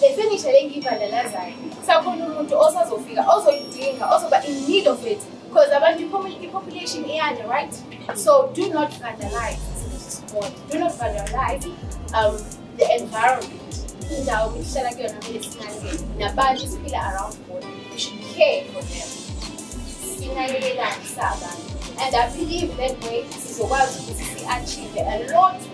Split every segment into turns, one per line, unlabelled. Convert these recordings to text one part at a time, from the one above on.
le furniture le ngiyibhandalazayo sakhona umuntu osazofika ozoyidinga ozoba in need of it because abantu i-population iyanda right so do not vandalize isikole do not vandalize um, the environment indawo kuhlala kuyona kumele sinakekele nabantu siphila around bona we should care for them sinakekelane sabantu and i believe that way sizokwazi ukuthi si-achieve a lot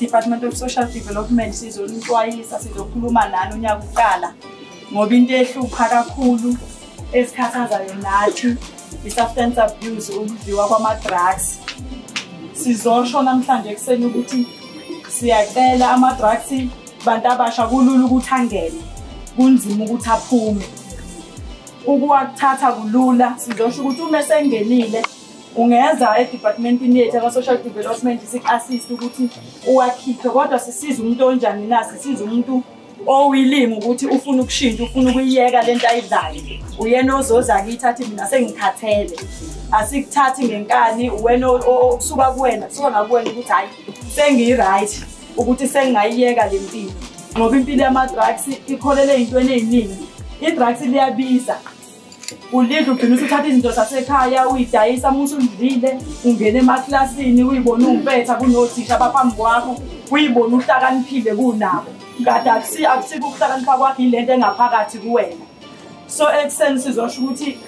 Department of Social Development sizonixwayisa sizokhuluma nani unyaka uqala ngoba into ehlupha kakhulu esikhathazayo nathi i-substance abuse ukudliwa kwama-drugs sizosho namhlanje ekuseni ukuthi siyacela ama-drugs bantu abasha kulula ukuthi angene kunzima ukuthi aphume ukuwakuthatha kulula sizosho ukuthi uma esengenile ungeza edepartmentini yethu aka-social development siku-assist ukuthi uwakhiphe kodwa sisiza umuntu onjani na sisiza umuntu owilimi ukuthi ufuna ukushintsha ufuna ukuyiyeka le nto ayidlayo uyena ozoza kithi athi mina sengikhathele asikuthathi ngenkani uwena okusuka kuwena kusuka ngakuwena ukuthi hhayi sengiyi-right ukuthi sengingayiyeka le mpilo ngoba impilo yama-drugs ikholele ey'ntweni ey'ningi i-drugs liyabiza ulidla ugcina usuthatha izinto zasekhaya uyidayisa uma usundlile ungena emaklasini uyibona uwumpetha kunothisha abaphambi kwakho uyibona uhlakaniphile kunabo kade akusiko ukuhlakanipha kwakho yile nto engaphakathi kuwena so ekuseni sizosho ukuthi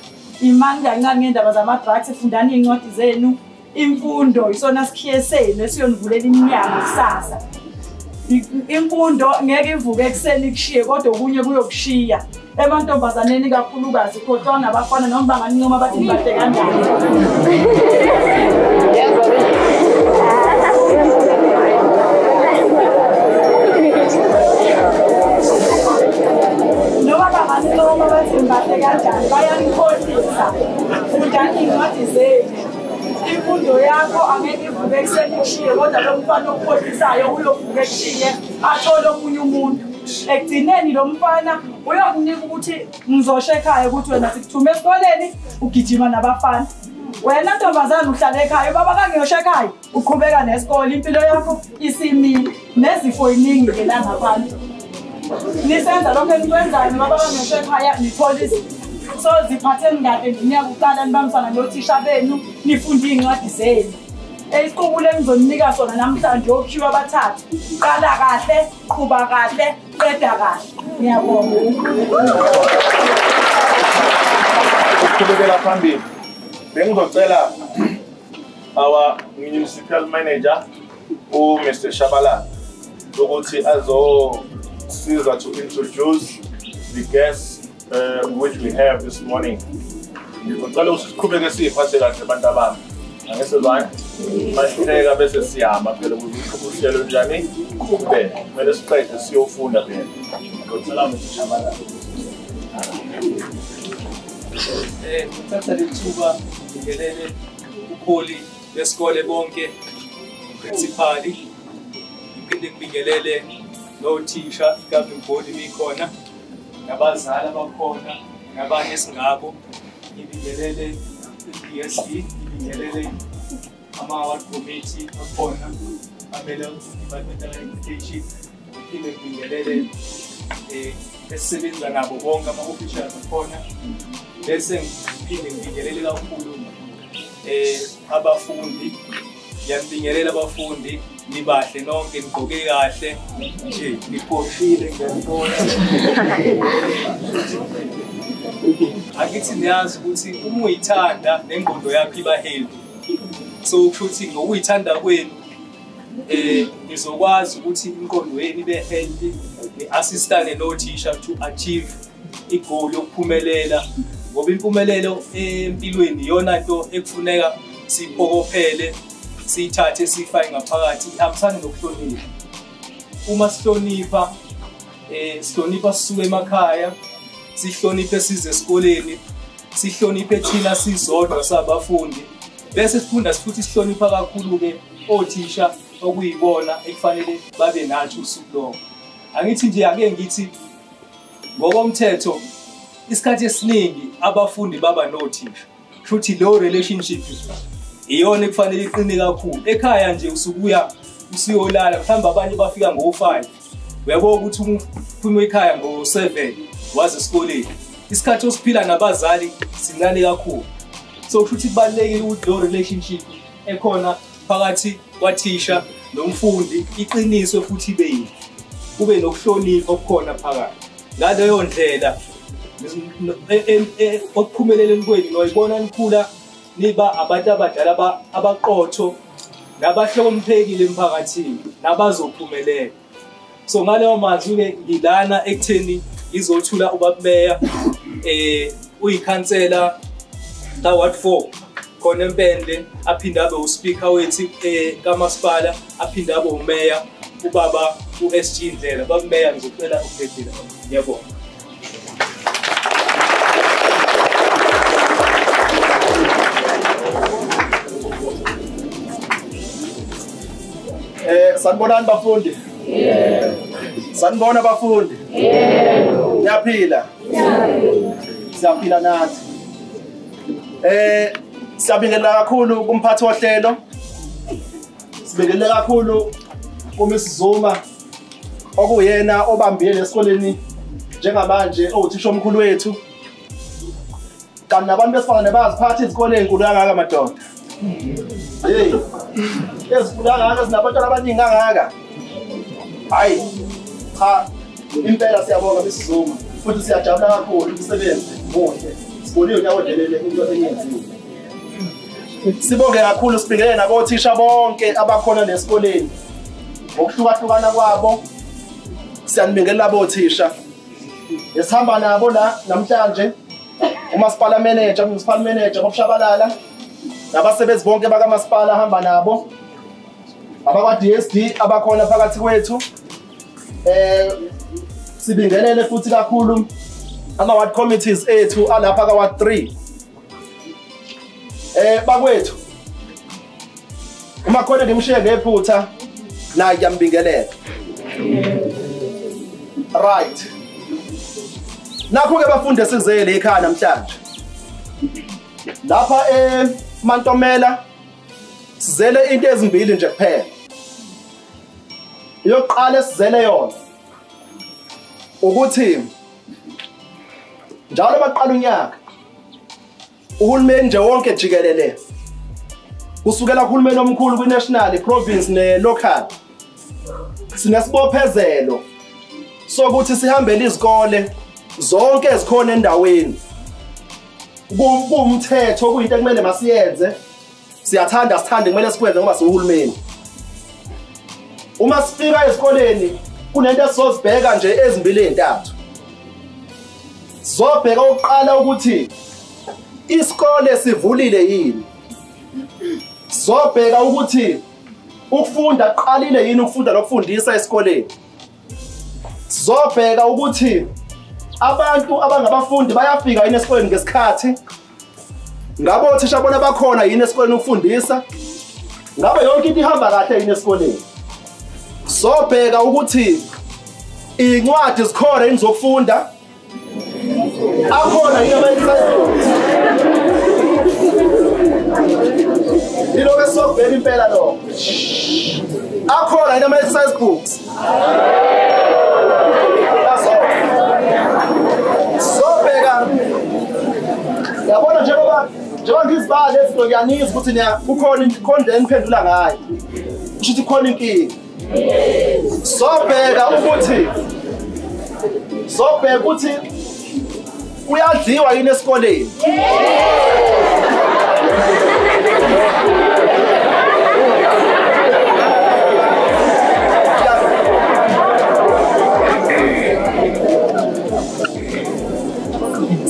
imani kancane ngendaba zama-drugs fundani iy'ncwadi zenu imfundo isona sikhiye senu esiyonivulela iminyango kusasa imfundo ngeke ivuke ekuseni kushiye kodwa okunye kuyokushiya emantombazaneni kakhulukazi khohlwa ngabafana noma bangancoma bathi ngibade kanjani noma bangancoma bathi ngibade kanjani bayanikhohlisa fundani iy'ncwadi zenu imfundo yakho angeke ivuke ekuseni kushiye kodwa lo mfana okukhohlisayo uyovuka ekushiye athole omunye umuntu ekugcineni lo mfana uyokunika ukuthi ngizosho ekhaya ukuthi wena sikuthume esikoleni ugijima nabafana wena ntombazane uhlala ekhaya ubaba kangiyosho ekhaya uqhubeka nesikole impilo yakho isimile nezifo iningi ke la ngabantu nisenza lokho enikwenzayo noma baba ngisho ekhaya nithola izinto so ziphatheni kahle ngeminyaka uqala nibambisana nothisha benu nifunde iy'ncwadi zenu isiqubulo engizoninika sona namhlanje okhiwa abathathu qala kahle qhuba kahle qeda kahle ngiyabonga
uqhubekela phambili bengizocela our municipal manager uMr Shabala ukuthi azosiza to introduce the guests uh, which we have this morning ngicela ukuthi siqhubeke siyiphathe kahle abantu abami angese lwani masihleka bese siyama phela kuziqhubuselo njani kube kumele siqede siyofunda phela ngicela Mr Shabala eh, ngithatha lethuba ngikelele
ubuholi besikole bonke principali ngiphinde ngibingelele nothisha i-governing body bikhona nabazali abakhona nabanye esingabo ngibingelele i-dsc ngibingelele ama-award committee akhona amele i-department of education Ngiphinde ngibingelele eh, esisebenza nabo bonke ama-officials akhona bese ngiphinde ngibingelele kakhulu um abafundi ngiyabingelela abafundi nibahle nonke nigqoke kahle nje niphoshile ngiyabona akithi niyazi ukuthi uma uyithanda nengqondo yakho iba healthy so kusho ukuthi ngokuyithanda kwenu eh nizokwazi ukuthi inqondo yenu ibe healthy assistane no teacher to achieve igoal yokuphumelela ngoba impumelelo empilweni iyona nto ekufuneka siphokophele siyithathe siyifake ngaphakathi ihambisane nokuhlonipha uma sihlonipha eh sihlonipha sisuke emakhaya sihloniphe size esikoleni sihloniphe thina sizodwa sabafundi Bese sifunda futhi sihlonipha kakhulu-ke othisha okuyibona ekufanele babe nathi usuku lonke. Angithi nje ake ngithi ngokomthetho isikhathi esiningi abafundi baba nothisha. Futhi leyo relationship iyona ekufanele iqine kakhulu. Ekhaya nje usukuya usuyolala mhlawumbe abanye bafika ngo-five uyabo ukuthi uphuma ekhaya ngo-seven waze esikoleni isikhathi osiphila nabazali sincane kakhulu so kusho ukuthi kubalulekile ukuthi leyo relationship ekhona phakathi kwathisha nomfundi iqiniswe futhi ibe yini kube nokuhlonipha okukhona phakathi ngaleyo ndlela e, e, e, okuphumeleleni kwenu noyibona nikhula niba abantu abadala abaqotho nabahloniphekile emphakathini nabazophumelela so ngaleyo mazwi-ke ngilana ekutheni ngizothula ubabumeya um eh, uyikhansela ka-ward four khona empendle aphinde abe uspeaker wethu um eh, kamasipala aphinde abe umeya ubaba u-sg ndlela babumeya ngizocela ukuphephile ngiyabonga
Eh sanibonani bafundi? Yebo. Sanibona bafundi? Yebo. Ngiyaphila. Ngiyaphila. Siyaphila nathi. Eh siyabingelela kakhulu kumphathi wohlelo. Sibingelela kakhulu kuMis Zuma okuyena obambile esikoleni njengamanje owuthisha omkhulu wethu kanti nabantu besifazane bayaziphatha izikole ezinkulu kangaka madoda hey ezinkulu kangaka ezinabantwana abaningi kangaka hhayi cha impela siyabonga besizuma futhi siyajabula kakhulu umsebenzi muhle sibonile unyaka odelele into eyenziwe sibonge kakhulu sibingelele nakothisha bonke abakhona nesikoleni ngokuhlukahlukana kwabo siyanibingelela bothisha esihamba nabo la namhlanje umasipala manager municipal manager bokushabalala nabasebenzi bonke bakamasipala ahamba nabo abakwa-dsd abakhona phakathi kwethu eh sibingelele futhi kakhulu ama-ward committees ethu alapha ka-ward 3 Eh bakwethu. Uma khona ngimshiye ngephutha naye kuyambingelela. Right. Nakho ke bafunde sizele ekhaya namhlanje. Lapha eh Mantomela sizele into ezimbili nje kuphela. Yokuqala esizele yona ukuthi njalo baqala unyaka uhulumeni nje wonke jikelele kusukela kuhulumeni omkhulu kwi-national i-province ne-local sinesibophezelo sokuthi sihambele izikole zonke ezikhona endaweni kuwumthetho kuyinto ekumele masiyenze siyathanda sithande kumele sikwenze ngoba siwuhulumeni uma sifika esikoleni kunento esizozibheka nje ezimbili ezintathu sizobheka ukuqala ukuthi isikole sivulile yini sizobheka ukuthi ukufunda kuqalile yini ukufunda nokufundisa esikoleni sizobheka ukuthi abantu abangabafundi bayafika yini esikoleni ngesikhathi ngabe othisha bona bakhona yini esikoleni ukufundisa ngabe yonke into ihamba kahle yini esikoleni sobheka ukuthi iy'ncwadi zikhona yini zokufunda akhona yini ama-exercise ilokho esizokubheka impela lokho akhona yini ama-exercise books sobheka yabona njengoba njengoba ngizibala lezi nto ngiyanizwa ukuthi niya kukhona khona le niphendula ngayo kusho ukuthi khona inkinga sobheka ukuthi sobheka ukuthi Kuyadliwa yini esikoleni?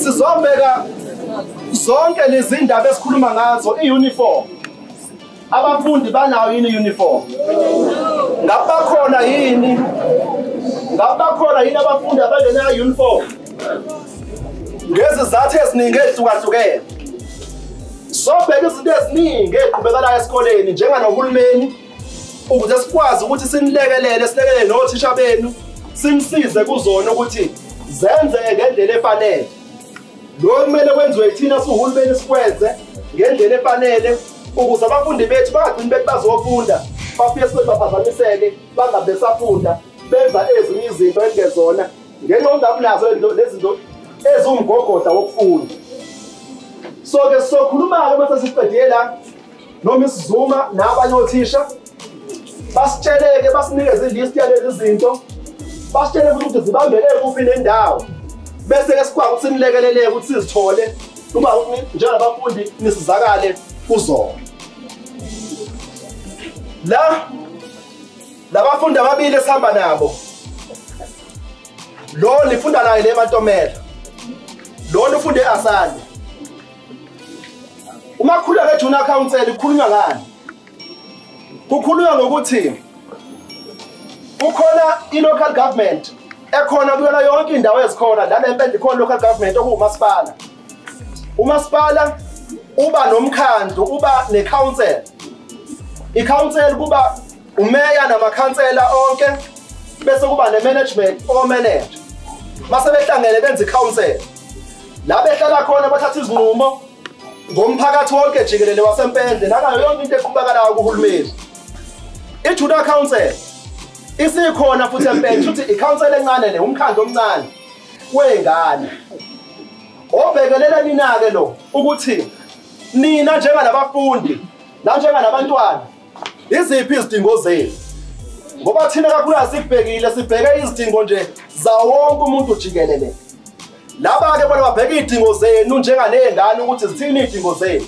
Sizobheka zonke lezi ndaba esikhuluma ngazo i-uniform abafundi banayo yini uniform ngabe bakhona yini ngabe bakhona yini abafundi abangenayo uniform ngezizathu eziningi ezihlukahlukene sobheka izinto eziningi eqhubekalayo esikoleni njenganohulumeni ukuze sikwazi ukuthi sinilekelele silekelele nothisha benu sinisize kuzona ukuthi zenzeke ngendlela efanele lokhu kumele kwenziwe yithina siwuhulumeni sikwenze ngendlela efanele ukuze abafundi bethu bangagcini bethi bazofunda bafike sibe baphazamiseke bangabe besafunda benza ezinye izinto ezingezona ngenxa yokungabi nazo lezinto eziwumgogodla wokufunda so-ke sizokhuluma-ke uma sesiqedela noma isizuma nabanye othisha basitsheleke basinikeze ilist yalezi zinto basitshele futhi ukuthi zibambele kuphi nendawo bese-ke sikwazi ukuthi nilekeleleke ukuthi sizithole uma njengabafundi nisizakale kuzona la labafundi ababili esihamba nabo lo nifunda naye le matomela lo nifunde asande uma khuleka junior council ikhulunywa ngani Kukhulunywa ngokuthi kukhona i-local government ekhona kuyona yonke indawo ezikhona lana empela ikhona local government okuwumasipala umasipala uba nomkhandlu uba ne-council i-council kuba umeya namakhansela onke bese kuba ne-management omanage mase behlangene benza i-council la behlala khona bathatha izinqumo ngomphakathi wonke jikelele wasempendle nakayo yonke into eqhubakalayo kuhulumeni ijuda council isikhona futhi empendle futhi icouncil encane le umkhandlu omncane wey'ngane obhekelele nina-ke lo ukuthi nina njengalabafundi nanjengalabantwana iziphi izidingo zenu ngoba thina kakhulu asibhekile sibheke izidingo nje zawonke umuntu jikelele Laba-ke bona babheka iy'dingo zenu njenganey'ngane ukuthi zithini iy'dingo zenu.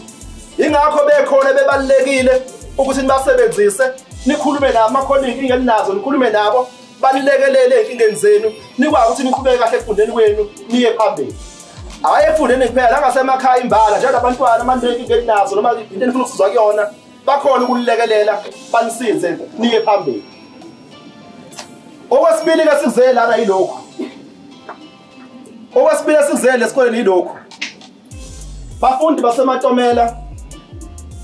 Yingakho bekhona bebalulekile ukuthi nibasebenzise, nikhulume nabo uma khona iy'nkinga eninazo, nikhulume nabo, banilekelele ey'nkingeni zenu, nikwazi ukuthi niqhubeke kahle ekufundeni kwenu, niye phambili. Hhayi ekufundeni kuphela, nangasemakhaya imbala, njengoba abantwana uma ninenkinga eninazo noma into enifuna ukusizwa kuyona, bakhona ukunilekelela, banisize, niye phambili. Okwesibili-ke sikuzele lana yilokhu. Okwesibili esikuzele esikoleni yilokhu. Bafundi basematomela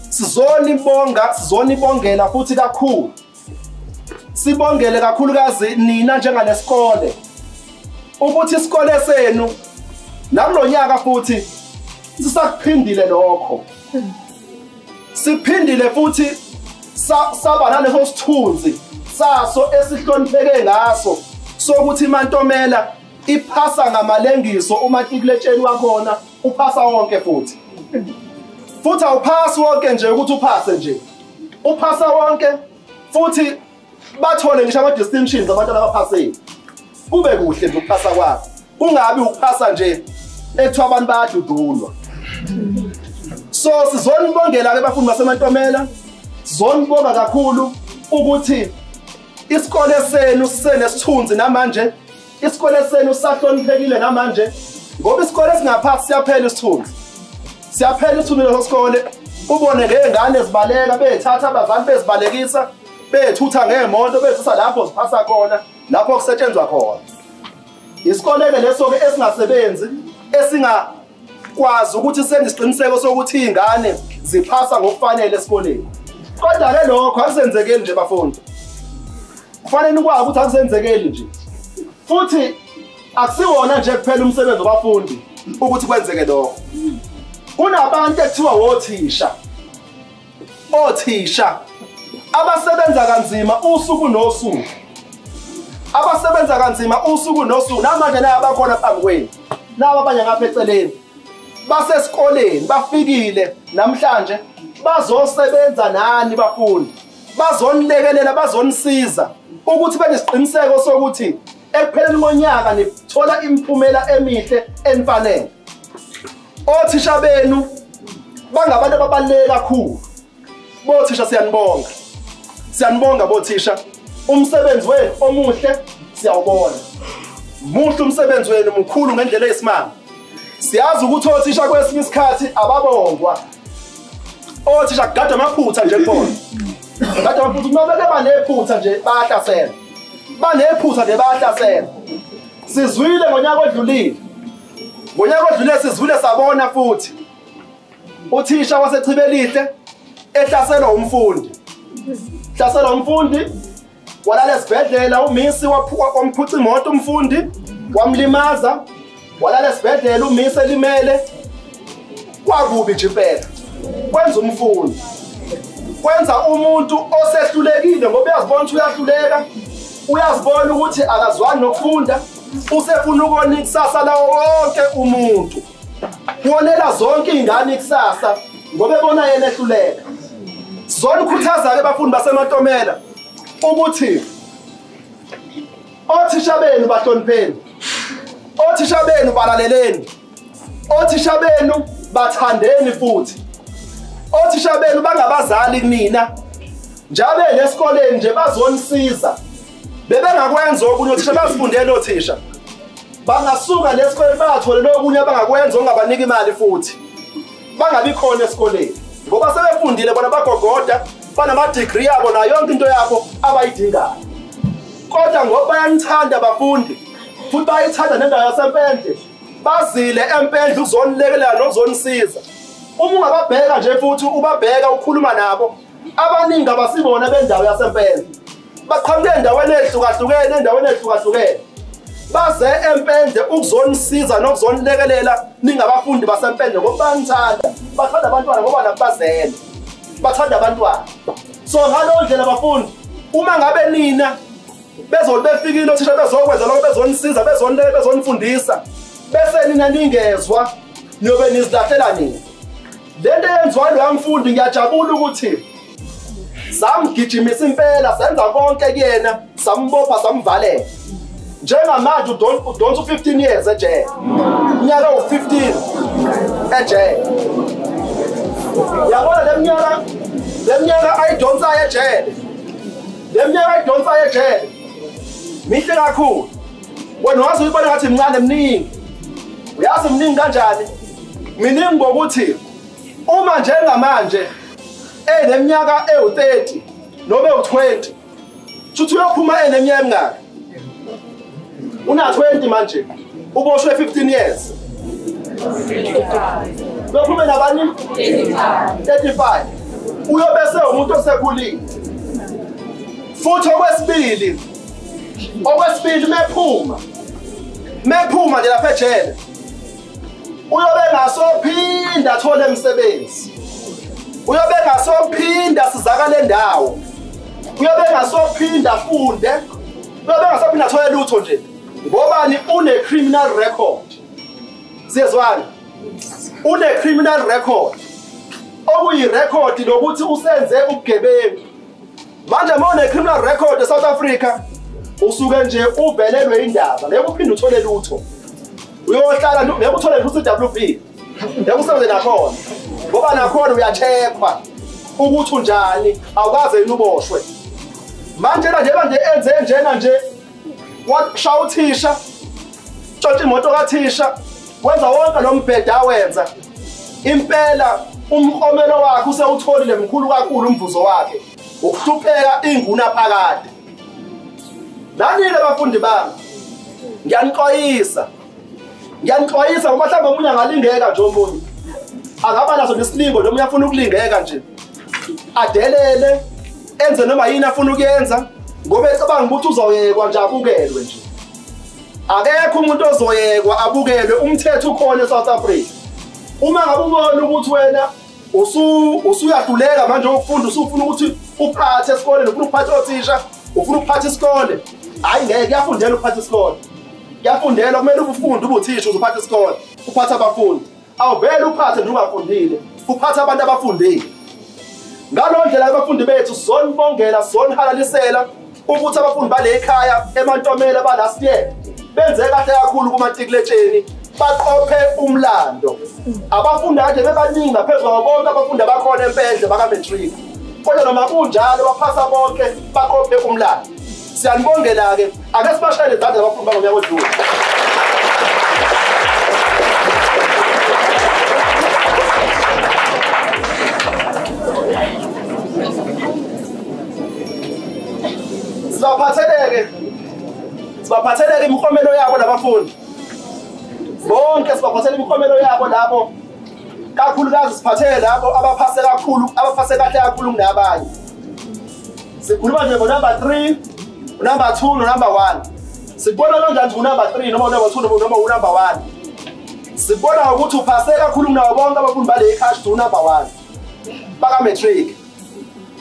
sizonibonga sizonibongela futhi kakhulu. Sibongele kakhulukazi nina njengalesikole ukuthi isikole senu nakulonyaka futhi sisakuphindile lokho. Hmm. Siphindile futhi saba naleso sithunzi saso esihlonipheke ngaso sokuthi iMantomela iphasa ngamalengiso umatikuletsheni wakhona uphasa wonke futhi futhi awuphasi wonke nje ukuthi uphase nje uphasa wonke futhi bathole ngisho ama-distinctions abantwana abaphasile kube kuhle nje ukuphasa kwakho kungabi ukuphasa nje ekuthiwa abantu bayadudulwa so sizonibongela-ke bafundi basemantomela sizonibonga kakhulu ukuthi isikole senu sisenesithunzi namanje isikole senu sahloniphekile namanje ngoba isikole singaphathi siyaphela isithunzi siyaphela isithunzi leso sikole ubone ngey'ngane zibaleka bey'thatha abazali bezibalekisa bethutha ngeemoto bezisa lapho ziphasa khona lapho kusetshenzwa khona isikole-ke leso-ke esingasebenzi esingakwazi ukuthi senisiqiniseko sokuthi iy'ngane ziphasa ngokufanele esikoleni kodwa-ke lokho akusenzekeli nje bafundi kufanele nikwazi ukuthi akusenzekeli nje futhi akusiwona nje kuphela umsebenzi wabafundi ukuthi kwenzeke lokho kunabantu ekuthiwa wothisha othisha abasebenza kanzima usuku nosuku abasebenza kanzima usuku nosuku namanje naye abakhona phambi kwenu nabo abanye ngapha eceleni basesikoleni bafikile namhlanje bazosebenza nani bafundi bazonilekelela bazonisiza ukuthi benesiqiniseko sokuthi Ekupheleni konyaka nithola imiphumela emihle enifanele. Othisha benu bangabantu ababaluleke kakhulu. Bothisha siyanibonga. Siyanibonga bothisha. Umsebenzi wenu omuhle siyawubona. Muhle umsebenzi wenu mkhulu ngendlela eyisimanga. Siyazi ukuthi othisha kwesinye isikhathi ababongwa. Othisha kugada amaphutha nje kubona. Kade amaphutha uma beke banephutha nje bayahlasela. banephutha nje bayahlasela sizwile ngonyaka odlulile ngonyaka odlulile sizwile sabona futhi uthisha wasechibelihle ehlaselwa umfundi hlaselwa umfundi walala esibhedlela umisi wamphutha imoto umfundi wamlimaza walala esibhedlela umisi elimele kwakubi nje impela kwenza umfundi kwenza umuntu osehlulekile ngoba uyazibona ukuthi uyahluleka uyazibona ukuthi akazwani nokufunda usefuna ukona ikusasa lawo wonke umuntu wonela zonke iy'ngane ikusasa ngoba ebona yena ehluleka zona ukhuthaza-ke abafundi basemantomela ukuthi Othisha benu bahlonipheni. Othisha benu balaleleni. Othisha benu bathandeni futhi. Othisha benu bangabazali mina. Njabe nesikoleni nje bazonisiza. Bebengakwenza okunye othisha bazifundele othisha. Bangasuka lesikoleni bathole lokunye abangakwenza ongabanika imali futhi. bangabi khona esikoleni ngoba sebefundile bona bagogoda banamadigri yabo nayo yonke into yabo abayidingayo kodwa ngoba bayanithanda abafundi futhi bayithanda nendawo yasempendle bazile empendle ukuzonilekelela nokuzonisiza uma ungababheka nje futhi ubabheka ukhuluma nabo abaningi abasibona bendawo yasempela baqhamuke endaweni ehlukahlukene endaweni ehlukahlukene baze empende ukuzonisiza nokuzonilekelela ningabafundi basempende ngoba banithanda bathanda abantwana ngoba nabo bazele bathanda abantwana so ngaleyo ndlela bafundi uma ngabe nina bezoli befikile othisha bezokwenza lokho bezonisiza bezonileke bezonifundisa bese nina ningezwa niyobe nizilahlela nini lento eyenziwa loya mfundi ngiyajabula ukuthi samgijimisa impela senza konke kuyena sambopha samvalela njengamanje udonsa u-15 years ejele unyaka u-15 ejele yabona le mnyaka le mnyaka ayidonsayo ejele le mnyaka ayidonsayo ejele mihle kakhulu wena waze uyibona ngathi mncane mningi uyazi mningi kanjani miningi ngokuthi uma njengamanje eneminyaka ewu-30 noma ewu-20 shuthi uyophuma eneminyaka emingaki una-20 manje uboshwe 15 years uyophume nabani 35 uyobese umuntu osekhulile futhi okwesibili okwesibili mephuma mephuma nje lapha ejele uyobe ngasophinda athole emsebenzi uyobe ngasophinda sizakale ndawo uyobe ngasophinda afunde uyobe ngasophinda athole lutho nje ngobani une-criminal record siyezwani une-criminal record okuyirekhodi lokuthi usenze ubugebengu manje uma une-criminal record esouth africa usuke nje uvelelwe indaba ngeke uphinde uthole lutho uyohlala ngeke uthole lutho i-w b ngeke usebenze nakhona ngoba nakhona uyathekwa ukuthi unjani awukaze yini uboshwe manje na njengoba nje enze njena nje washaya uthisha tshontsha imoto kathisha wenza wonke lo mbhede awenza impela umkomelo wakhe usewutholile mkhulu kakhulu umvuzo wakhe ukuhlupheka inguna phakade nanile bafundi bami ngiyanixwayisa ngiyanixwayisa ngoba mhlawumbe omunye angalingeka nje omunye angaba naso nesilingo noma uyafuna ukulingeka nje adelele enze noma yini afuna ukuyenza ngoba ecabanga ukuthi uzoyekwa nje abukelwe nje akekho umuntu ozoyekwa abukelwe umthetho ukhona eSouth Africa uma ngabe ubona ukuthi wena usu usuyahluleka manje ukufunda usufuna ukuthi uphathe esikole nofuna ukuphatha othisha ufuna ukuphatha isikole hayi ngeke kuyafundela ukuphatha isikole kuyafundela kumele ubufunde ubuthisha uzophatha isikole uphatha abafundi awuvele uphathe nungafundile uphathe abantu abafundile ngalo ndlela abafundi bethu sonibongela sonihalalisela ukuthi abafundi bale khaya emantomela balast year benze kahle kakhulu kumatikuletsheni baqophe umlando abafundi kade bebaningi ngaphezu kwabo bonke abafundi abakhona empendle bakamatric kodwa noma kunjalo baphasa bonke baqophe umlando siyanibongela-ke ake sibashayele izandla abakhulu bangonyaka odlule sibaphatheleke sibaphatheleke imiklomelo yabo labafundi bonke sibaphathela imiklomelo yabo labo kakhulukazi siphathele labo abaphase kakhulu abaphase kahle kakhulu kunabanye sikhuluma nje ngonumber three unumber two nonumber one sibona kanjani ukuthi unumber three noma unumber two noma unumber one sibona ukuthi uphase kakhulu kunawo bonke abafundi bale icash to unumber one bakamatric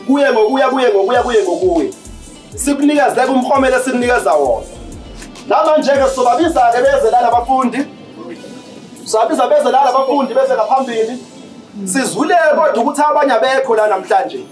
kuye ngokuya kuye ngokuya kuye ngokuya sikunikezeka umhomelo esikunikeza wona namanje-ke sizobabiza-ke beze lana abafundi sizobabiza beze lana abafundi beze ngaphambili sizwile kodwa ukuthi abanye abekho la namhlanje